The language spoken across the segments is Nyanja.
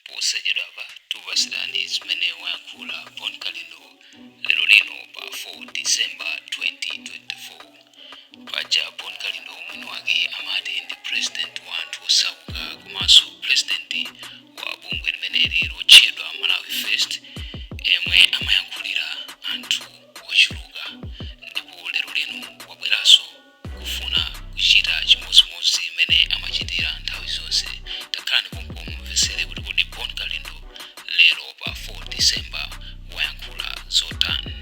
Posachedwapa tikupatsirani zimene wayankhula Bon Kalindo lero lino pa 4 December 2024. Paja Bon Kalindo mwini wake amati ndi president wa anthu osauka komanso president wa bungwe limeneli lotchedwa Malawi First emwe amayankhulira anthu ochuluka ndipo lero lino wabweranso kufuna kuchita chimodzimodzi mmene amachitira nthawi zonse? Takhalani pompo mumvetsere kuti kodi Bon Kalindo lero pa 4 December wayankhula zotani.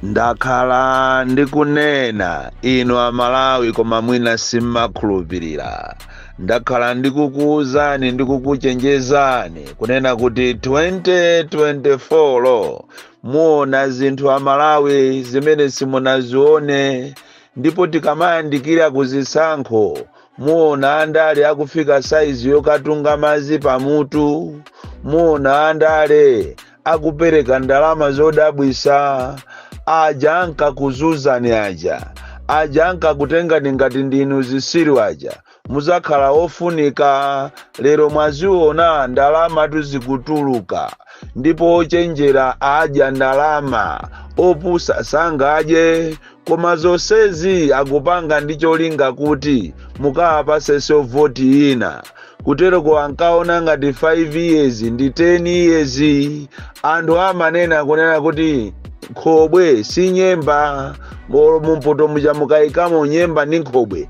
Ndakhala ndikunena inu Amalawi koma mwina simmakhulupirira. Ndakhala ndikukuwuzani ndi kukuchenjezani kunena kuti 2024 muona zinthu Amalawi zimene simunazione ndipo tikamayandikira ku zisankho muona andale akufika saizi yokatunga madzi pamutu muona andale akupereka ndalama zodabwisa aja ankakuzuzani aja aja ankakutengani ngati ndinu zisiru aja muzakhala ofunika lero mwaziona ndalama tuzikutuluka ndipo ochenjera adya ndalama opusa sangadye koma zonsezi akupanga ndi cholinga kuti mukawapasenso voti Ena kuteroko ankaona ngati 5 years ndi 10 years anthu amanena kunena kuti nkhobwe si nyemba mumpoto muja mukayikamo nyemba ndi nkhobwe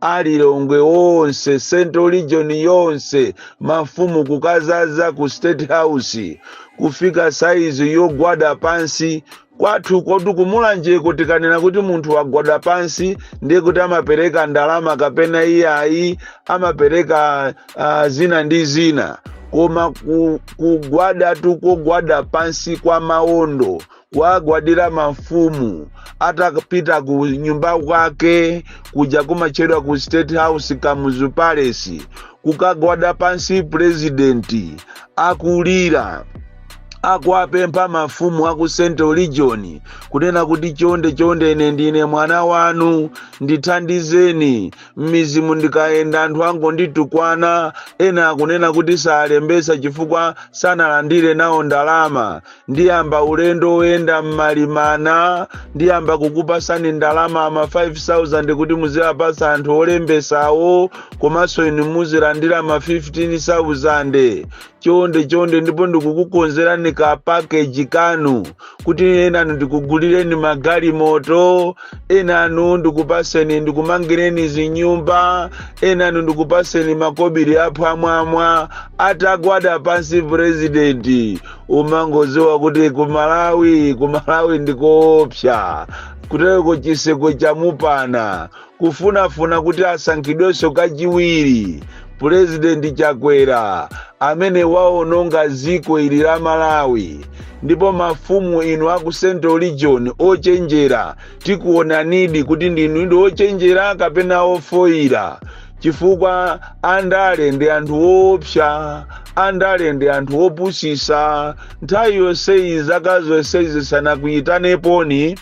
alilongwe onse central region yonse mafumu kukazaza ku state house kufika saizi yogwada pansi kwathukotu kumulanjeko tikanena kuti munthu wagwada pansi ndiye kuti amapereka ndalama kapena iyayi amapereka uh, zina ndi zina koma kugwadatu kogwada pansi kwa maondo kuwagwadira mafumu atapita ku nyumba kwake kuja kumatchedwa ku state house kamuzu palace kukagwada pansi purezidenti akulira akuwapempha mafumu aku central region kunena kuti chonde chonde ine ndine mwana wanu ndithandizeni m'mizimu ndikayenda anthu angonditukwana ena akunena kuti salembesa chifukwa sanalandire nawo ndalama ndiyamba ulendo woyenda m'malimana ndiyamba kukupasani ndalama ama 5000 kuti muziwapasa anthu olembesawo komanso inu muzilandira ma 15000 chonde chonde ndipo ndikukukonzerani ka pakeji kanu kuti enanu ndikugulireni magalimoto enanu ndikupaseni ndikumangireni zinyumba enanu ndikupaseni makobiri aphwamwamwa atagwada pansi purezidenti umangoziwa kuti ku malawi ku malawi ndikoopsa kutereko chiseko chamupana kufunafuna kuti asankhidwenso kachiwiri pulezidenti chakwera amene waononga ziko ili la malawi ndipo mafumu inu aku central region ochenjera tikuonanidi kuti ndinudi ochenjera kapena ofoyira chifukwa andale ndi anthu oopsa andale ndi anthu opusisa nthawi yonseyi zaka zonseyi sanakuyitaneponi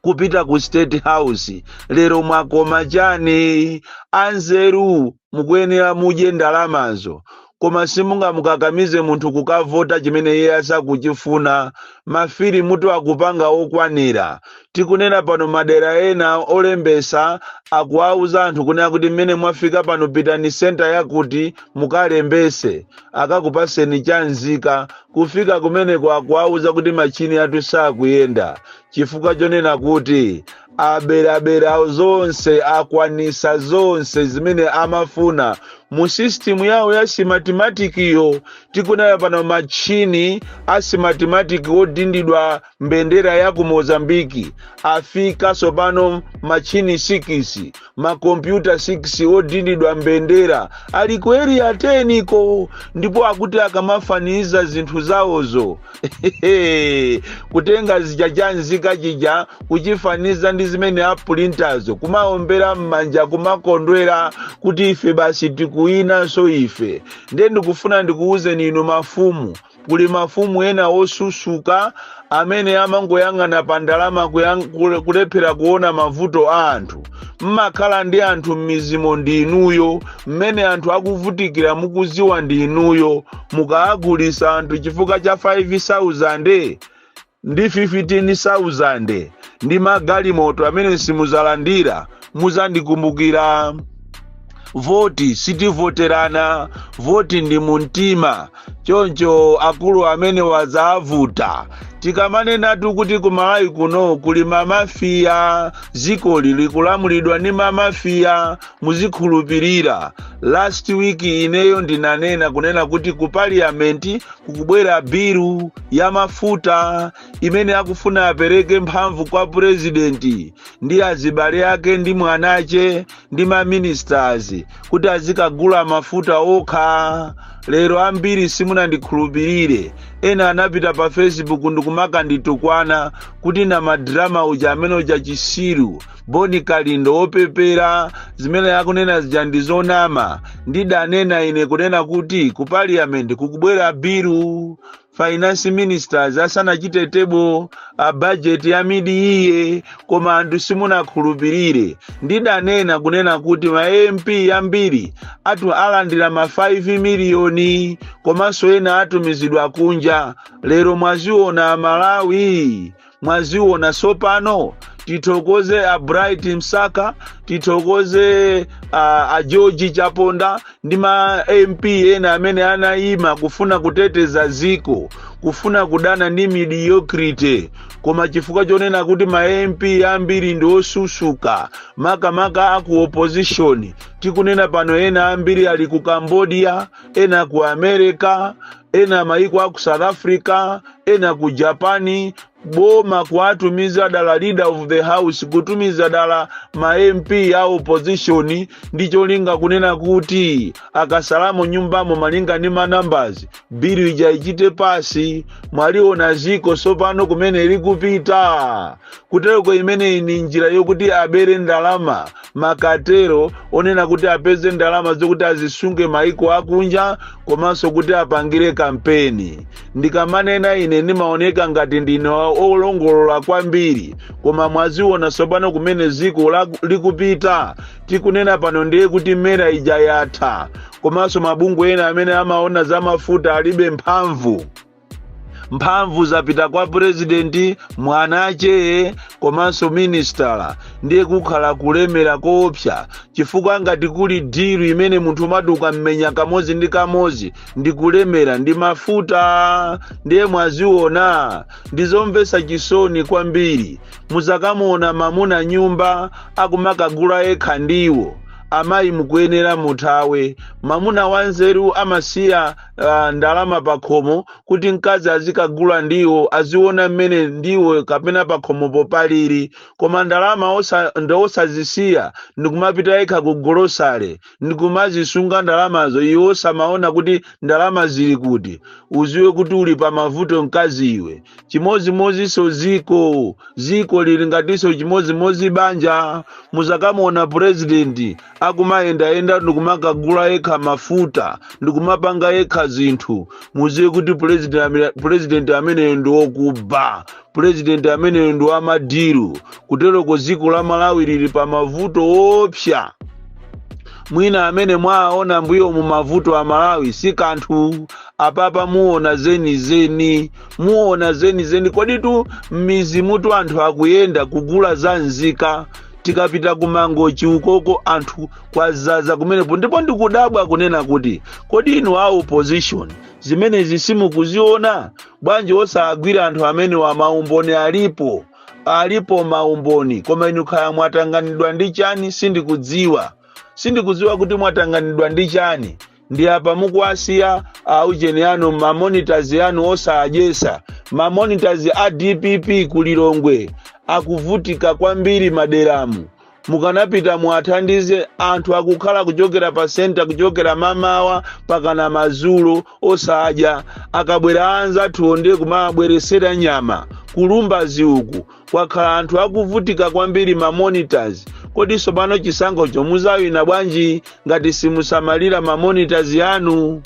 kupita ku state house lero mwakoma chani anzeru mukuyenera mudye ndalamazo koma simungamukakamize munthu kukavota chimene iye asakuchifuna mafilimutu akupanga okwanira tikunena pano madera ena olembesa akuwauza anthu kunena kuti mmene mwafika pano pitani senta yakuti mukalembese akakupaseni chanzika kufika kumeneko akuwauza kuti machini athu sakuyenda chifukwa chonena kuti aberabera zonse akwanisa zonse zimene amafuna mu system yawo ya simatimatikiyo tikunena pano matchini a simatimatiki odindidwa mbendera ya ku mozambiki afika tsopano matchini sikisi makompyuta 6 odindidwa mbendera ali ku eriya 10 ko ndipo akuti akamafaniza zinthu zawozo kutenga chija chanzika chija kuchifaniza ndi zimene apulintazo kumaombera m'manja kumakondwera kuti ife basi tikuwinanso ife ndiye ndikufuna ndikuwuzeni inu mafumu Kuli mafumu ena osusuka amene amangoyang'ana pa ndalama kulephera kuona mavuto a anthu. Mmakhala ndi anthu m'mizimu ndi inuyo, mmene anthu akuvutikira mukuziwa ndi inuyo. Mukaagulisa anthu chifukwa cha 5,000 ndi 15,000 ndi magalimoto amene simuzalandira muzandikumbukira voti sitivoterana voti ndi mumtima choncho akulu amene wazavuta tikamanenatu kuti kumalawi kuno kuli mamafiya zikoli likulamulidwa ndi mamafiya muzikhulupirira last week ineyo ndinanena kunena kuti ku parliament kukubwera bilu ya mafuta imene akufuna apereke mphamvu kwa purezidenti ndi azibale ake ndi mwanache ndi maministers kuti azikagula mafuta okha lero ambiri simunandikhulupirire ena anapita pa facebook ndikumakanditukwana kuti na madrama uja amene uja chisiru boni kalindo wopepera zimene akunena zija ndi zonama ndidanena ine kunena kuti ku parliament kukubwera bilu finance ministers asanachite table a budget ya mid-year koma anthu simunakhulupirire ndidanena kunena kuti ma mp ambiri atu alandira ma 5 miliyoni komanso ena atumizidwa kunja lero mwaziona amalawi mwaziona tsopano tithokoze a bright msaka tithokoze a, a george chaponda ndi ma mp ena amene anayima kufuna kuteteza dziko kufuna kudana ndi mediocrity koma chifukwa chonena kuti ma mp ambiri ndi osusuka makamaka aku opposition tikunena pano ena ambiri ali ku cambodia ena ku america ena mayiko a ku south africa ena ku japan boma kuwatumiza dala leader of the house kutumiza dala ma mp a opposition ndi cholinga kunena kuti akasalamo mnyumbamo malinga ndi ma numbers bilu ija ichite pass mwaliona ziko sopano kumene likupita kutereko imeneyi ni njira yokuti abere ndalama makatero onena kuti apeze ndalama zokuti azisunge maiko akunja komanso kuti apangire kampeni ndikamanena ine ndimaoneka ngati ndine olongolola kwambiri koma mwaziona tsopano kumene ziko likupita tikunena pano ndiye kuti mera ija yatha komanso mabungwe ena amene amaona za mafuta alibe mphamvu mphamvu zapita kwa purezidenti mwanache komanso minister ndiye kukhala kulemera koopsa chifukwa ngati kuli deal imene munthu umaduka mmenya kamodzi ndi kamodzi ndi kulemera ndi mafuta ndiye mwaziona ndizomvetsa chisoni kwambiri muzakamuona mamuna mnyumba akumakagula yekha ndiwo amayi mukuyenera muthawe mamuna wanzeru amasiya ndalama pakhomo kuti mkazi azikagula ndiwo aziona mmene ndiwo kapena pakhomopo paliri koma ndalama osa, ndi osazisiya ndikumapita yekha ku golosale ndikumazisunga ndalamazo iwe osamaona kuti ndalama zili kuti uziwe kuti uli pa mavuto mkazi iwe chimodzimodzinso ziko ziko lili ngatinso chimodzimodzi banja muzakamuona purezidenti akumayendayenda ndikumakagula yekha mafuta ndikumapanga yekha zinthu muziwe kuti pulezidenti ameneyo ndi wokuba pulezidenti ameneyo ndi wamadiru kuteroko dziko la malawi lili pa mavuto opsa mwina amene mwaona mbuyo mu mavuto a malawi si kanthu apapa muona zenizeni muona zenizeni koditu m'mizimu tu anthu akuyenda kugula za nzika tikapita ku mangochi ukoko anthu kwazaza kumenepo ndipo ndikudabwa kunena kuti kodi inu a opposition zimenezi simukuziona bwanji osagwira anthu amenewa maumboni alipo alipo maumboni koma inu kaya mwatanganidwa ndi chani sindikudziwa sindikudziwa kuti mwatanganidwa ndi chani ndi apa mukuwasiya aujeni anu mamonitors anu osawadyesa mamonitors a dpp ku lilongwe akuvutika kwambiri m'maderamu mukanapita muwathandize anthu akukhala kuchokera pa senta kuchokera mamawa pakana madzulo osadya akabwera anzathu ndiye kumabweresera nyama kulumbazi uku kwakhala anthu akuvutika kwambiri ma monitors kodi tsopano chisankhocho muzawina bwanji ngati simusamalira ma monitors anu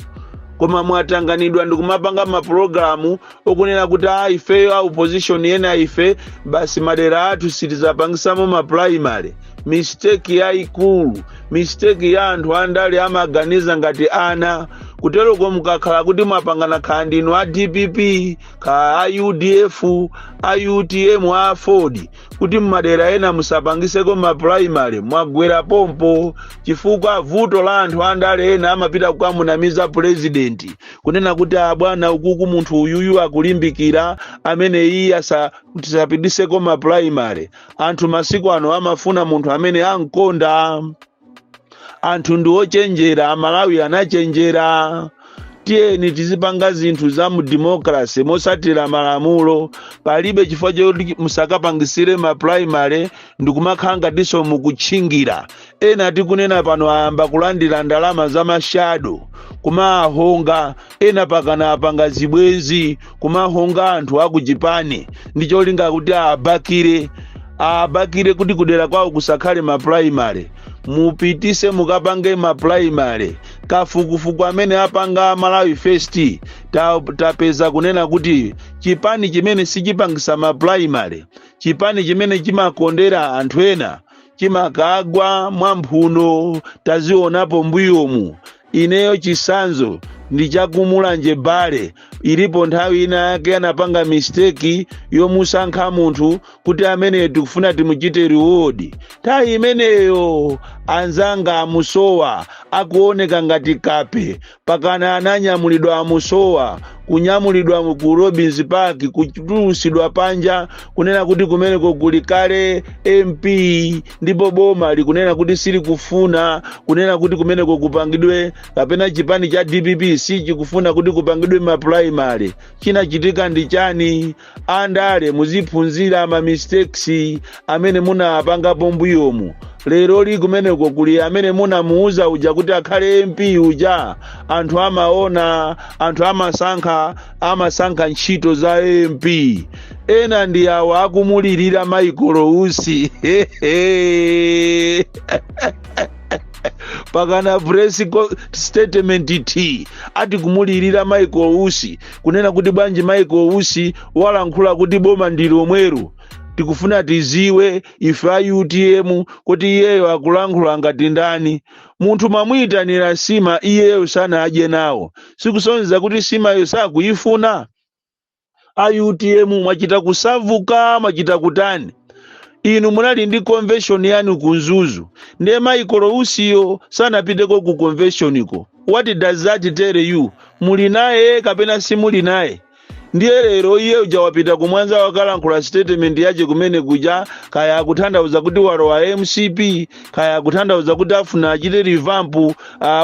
koma mwatanganidwa ndikumapanga mapulogalamu okunena kuti a ifeyo a opposition ena ife basi madera athu sitizapangisamo mapulaimale misteki yaikulu misteki ya anthu andale amaganiza ngati ana kuteroko mukakhala kuti mwapangana kaya ndinu a dpp kaya a udf a utm a aford kuti mmadera ena musapangiseko mapuraimary mwagwera pompo chifukwa vuto la anthu andale ena amapita kukamunamiza purezidenti kunena kuti abwana ukuku munthu uyuyu akulimbikira amene iye asa- tisapititseko mapuraimary anthu masiku ano amafuna munthu amene amkonda anthu ndi ochenjera amalawi anachenjera tiyeni tizipanga zinthu za mu democracy mosatira malamulo palibe chifukwa choti musakapangisire ma primary ndikumakhala ngatinso mukutchingira ena tikunena pano ayamba kulandira ndalama za mashado kumawahonga ena pakana apanga zibwenzi kumawahonga anthu akuchipani ndi cholinga kuti awabakire awabakire kuti kudera kwawo kusakhale mapulaimale mupitise mukapange mapulaimale kafukufuku amene apanga malawi first tapeza kunena kuti chipani chimene sichipangisa mapulaimale chipani chimene chimakondera anthu ena chimakagwa mwamphuno tazionapo mbuyomu Ineyo chisanzo ndi chakumulanje bale ilipo nthawi ina yake anapanga mistake yomusankha munthu kuti ameneyo tikufuna timuchite reward nthawi imeneyo anzanga amusowa akuoneka ngati kape pakana ananyamulidwa amusowa kunyamulidwa ku robins park kutulusidwa panja kunena kuti kumeneko kuli kale mp ndipo boma likunena kuti silikufuna kunena kuti kumeneko kupangidwe kapena chipani cha dpp sichikufuna kuti kupangidwe mapulaimale chinachitika ndi chani andale muziphunzira ma mistakes amene munapangapo mbuyomu lero li kumeneko kuli amene munamuuza uja kuti akhale mp uja anthu amaona anthu amasankha amasankha ntchito za mp ena ndi awa akumulirira michael usi pakana press co- statement ati kumulirira michael usi kunena kuti bwanji michael usi walankhula kuti boma ndi lomwero tikufuna tidziwe ife a utm kuti iyeyo akulankhula ngati ndani Munthu mwamuitanira sima iyeyo sanadye nawo sikusonyeza kuti simayo sakuyifuna? A utm mwachita kusavuka mwachita kutani? Inu munali ndi convention yanu ku Mzuzu ndiye Michael Usiyo sanapiteko ku conventioniko what does that tell you? Muli naye kapena simuli naye? ndiye lero iye uja wapita kumwanza wakalankhula statement yace kumene kuja kaya akuthandauza kuti walowa mcp kaya akuthandauza kuti afuna achite revamp uh,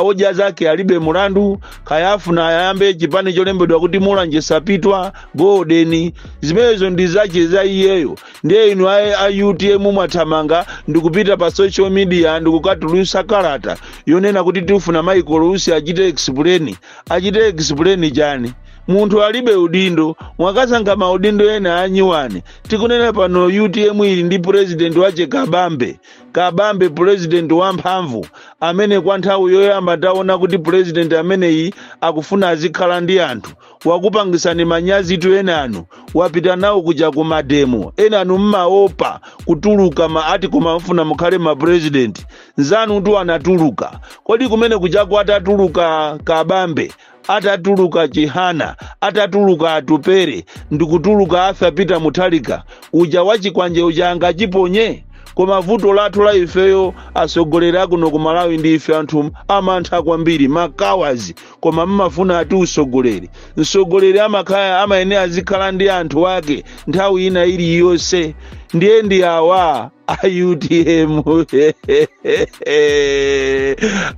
odya zake alibe mulandu kaya afuna ayambe chipani cholembedwa kuti mulanje sapitwa golden zimenezo ndi zace za iyeyo ndiye inu a, a utm mwathamanga ndikupita pa social media ndikukatulusa kalata yonena kuti tifuna michael usi achite explain achite explain chani munthu alibe udindo mwakasankha maudindo ena anyiwani tikunena pano utm ili ndi purezidenti wache kabambe kabambe purezidenti wamphamvu amene kwa nthawi yoyamba taona kuti purezidenti ameneyi akufuna azikhala ndi anthu wakupangisani manyazi tu enanu wapita nawo kuja ku mademo enanu mmaopa kutuluka ma ati kumafuna mukhale mapurezidenti nzanutu anatuluka kodi kumene kujako atatuluka kabambe atatuluka chihana atatuluka atupere ndikutuluka arthur peter mutharika uja wachikwanje uja angachiponye koma vuto lathu la ifeyo atsogoleri akuno ku malawi ndi ife anthu amantha kwambiri ma cowards koma mmafuna ati usogoleri msogoleri amakhala amayenera azikhala ndi anthu ake nthawi ina iliyonse ndiye ndi awa a utm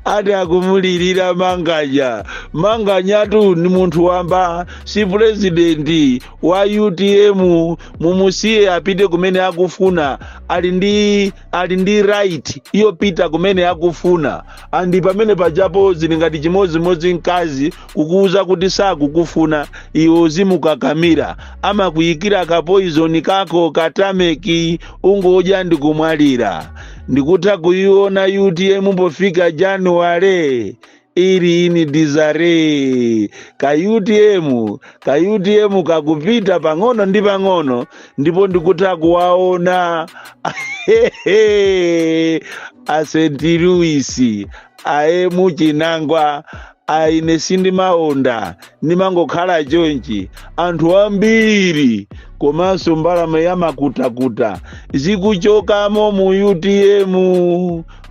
ati akumulirira manganya manganyatu ni munthu wamba si purezidenti wa utm mumusiye apite kumene akufuna ali ndi ali ndi right yopita kumene akufuna andi pamenepajapo zili ngati chimodzimodzi mkazi kukuuza kuti sakukufuna iwe uzimukakamira amakuyikira kapoizoni kako katameki ungodya ndikumwalira ndikutha kuyiona utm pofika januwale ili in disarray ka utm ka utm kakupita pang'ono ndi pang'ono ndipo ndikutha kuwaona a st louis aemu chinangwa aine sindimaonda ndimangokhala chonchi anthu ambiri komanso mbalame yamakutakuta zikuchokamo mu utm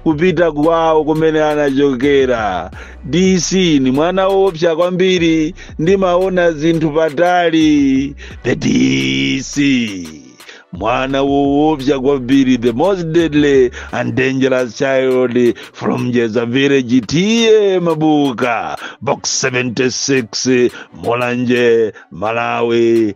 kupita kwawo kumene anachokera dc ni mwana woopsa kwambiri ndimaona zinthu patali the dc mwana woopsa kwambiri the most deadly and dangerous child from jeza village ta mabuka box 76 mulanje malawi